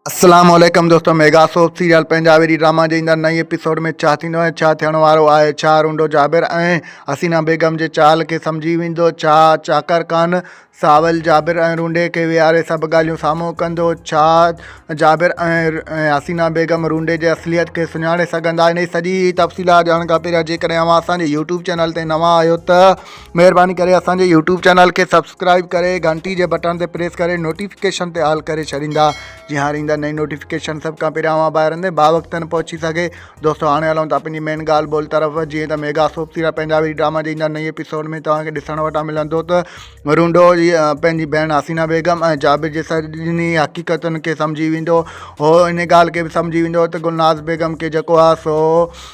السلام عليڪم دوستو mega soap serial Punjabi D drama جي ايندڙ نئين ايپيسوڊ ۾ ڇا ٿيندو ۽ ڇا ٿيڻ وارو آهي ڇا رونڊو جابر ۽ حسينا بيگم جي چال کي سمجهي ويندو ڇا چاڪر خان ساول جابر ۽ رونڊي کي ويهاري سڀ ڳالهيون سامهون ڪندو ڇا جابر ۽ حسينا بيگم رونڊي جي اصليت کي سڃاڻي سگهندا ان جي سڄي تفصيلات ڄاڻڻ کان پهريان جيڪڏهن اوهان اسان جي يوٽيوب چينل تي نوان آهيو ته مهرباني ڪري اسان جي يوٽيوب چينل کي سبسڪرائب ڪري گهنٽي جي بٽڻ تي پريس ڪري نوٽيفڪيشن تي آل ڪري ڇڏيندا جي هاڻي ايندا نئين نوٽيفڪيشن سڀ کان پهريان اوهان ٻاهر اندي با وقت نه پهچي سگهي دوستو هاڻي هلون ٿا پنهنجي مين ڳالهه ٻولهه طرف جيئن ته ميگا سوپ سيرا پنهنجا ويري ڊراما جي ايندا نئين ايپيسوڊ ۾ توهان کي ڏسڻ وٽا ملندو ته رونڊو جي پنهنجي ڀيڻ حسينا بيگم ۽ جابر جي سڄني حقيقتن کي سمجهي ويندو هو ان ڳالهه کي به سمجهي ويندو ته گلناز بيگم کي جيڪو آ سو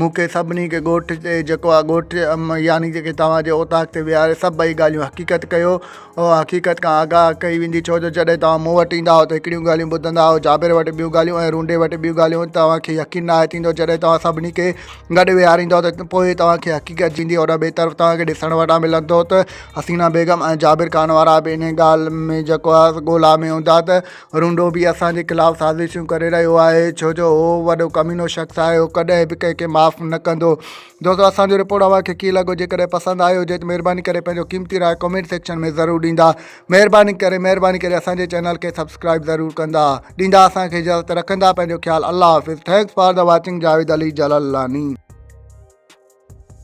مون کي سڀني کي ڳوٺ تي جيڪو آ ڳوٺ يعني جيڪي توهان جي اوطاق تي ويهاري سڀئي ڳالهيون حقيقت ڪيو او حقيقت کان آگاهه ڪئي ويندي ڇو جو جڏهن توهان مون وٽ ايندا آهيو ته هڪڙيون ڳالهيون ٻڌندا آهيو جابر وٽ ٻيون ڳالهيون ۽ رونڊي وٽ ٻيون ڳالهيون توهان کي يقين ناهي ٿيندو جڏهن توهان سڀني کي گڏ ويهاريندو ته پوء توهان کي حقيقت جيندي ان ٻئي طرف توهان کي ڏسڻ وٽان ملندو ته حسينا بيگم ۽ جابر خان وارا به ان ڳالهه ۾ جيڪو آ ڳولا ۾ هوندا ته رونڊو به اسان جي خلاف سازشون ڪري رهيو آهي ڇو جو هو وڏو ڪمينو شخص آهي هو ڪڏهن به ڪنهن کي معاف نه ڪندو دوستو اسانجو رپورٽ اوهان کي ڪيئن لڳو جيڪڏهن پسند آيو هجي ته مهرباني ڪري پنهنجو قيمتي راء ڪمينٽ سيڪشن ۾ ضرور ڏيندا مهرباني ڪري مهرباني ڪري اسانجي چينل کي سبسڪرائب ضرور ڪندا ڏيندا اسانکي اجازت رکندا پنهنجو خيال الله حافظ thanks for the watching Javed Ali Jalalani